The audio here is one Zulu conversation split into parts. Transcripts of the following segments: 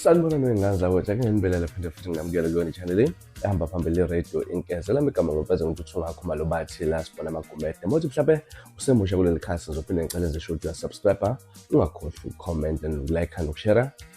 sanibona noyinganza kodwa ke ngenibela lapha nje futhi ngingamukela kuyona i-channel ehamba phambili le-radio inkeza lami igama ngopeza ngintuthu ngakho malo bathi la sibona amagumede mothi mhlawumbe usemusha kuleli khasi ngizophinde ngicele ngisho ukuthi uyasubscribe ungakhohlwa ucomment and ukulike nokushera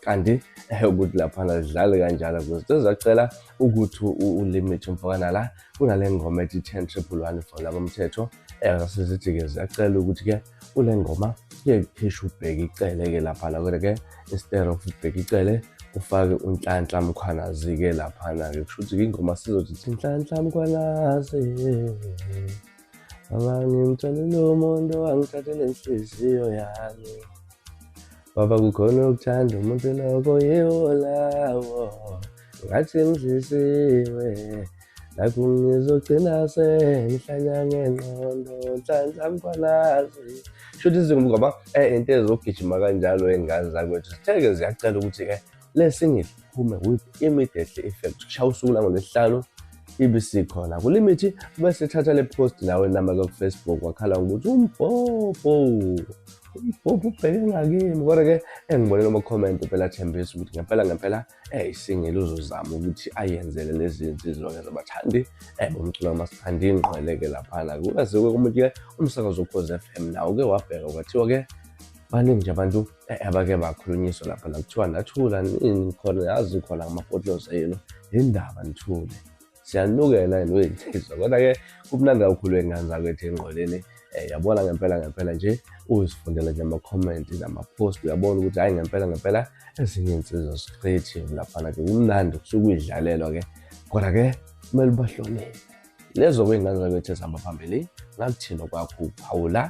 kanti eh, ukuthi laphana zidlale kanjalo because sezacela ukuthi ulimit umfokana la kunale ngoma ethi 10 triple one for laba mthetho eh, zasesithi-ke ziyacela ukuthi-ke kule ngoma kuye kukhishe ubheke icele-ke laphana kodwa-ke instead of ubheke icele ufake unhlanhla mkhwanazi-ke laphana-ke kusho ukuthi-ke ingoma sizothi thi nhlanhla mkhwanazi Baba ngimtholile umuntu owangithathela inhliziyo yami Baba kukhona ukuthanda umuntu lokho yiwo lawo ngathi ngidlisiwe Nakhu ngizogcina sengihlanya ngengqondo nhlanhla mkhwalazi Shuthi izingubo ngoba eh into ezokugijima kanjalo engane zakwethu zitheke ziyacela ukuthi-ke le single iphume with immediately effect kushaya usuku langolwesihlanu ibe sikhona kulimithi bese thatha le post nawe namba kufacebook wakhala ngokuthi umbhobho umbhobho ubheke ngakimi kodwa ke engibone noma comment phela thembisa ukuthi ngempela ngempela eh isingile uzozama ukuthi ayenzele lezi nsizwa ke zabathandi eh bomculo masithandi ingqweleke laphana kukaze ke umuntu ke umsakazo ukhoze FM nawo ke wabheka kwathiwa ke baningi nje abantu Eh, abake bakhulunyiswa lapha la kuthiwa nathula nini khona yazi khona ngamafotosa yenu yindaba nithule siyanukela yena uyinsizwa kodwa-ke kumnandi kakhulu engane zakwethu engqoleni um yabona ngempela ngempela nje uzifundela nje amakhomenti namapost uyabona ukuthi hhayi ngempela ngempela ezinye iy'nsizwa zicreative laphana-ke kumnandi kusuke uyidlalelwa-ke kodwa-ke kumele ubahloniphe lezo kwey'ngane zakwethu ezihamba phambili ngakuthini okwakho uphawula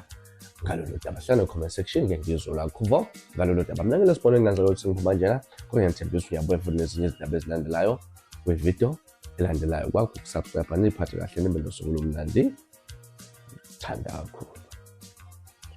ngalolu daba hlala comment section ke ngizwe lakho vo ngalolu daba mina ngelesibona ingane zakwethu ngiphuma njena kodwa ngiyethembisa uyabuya futhi nezinye izindaba ezilandelayo kwividiyo elandelayo kwakho ukusubscribe niphathe kahle nibe nosuku lomnandi thandakhulu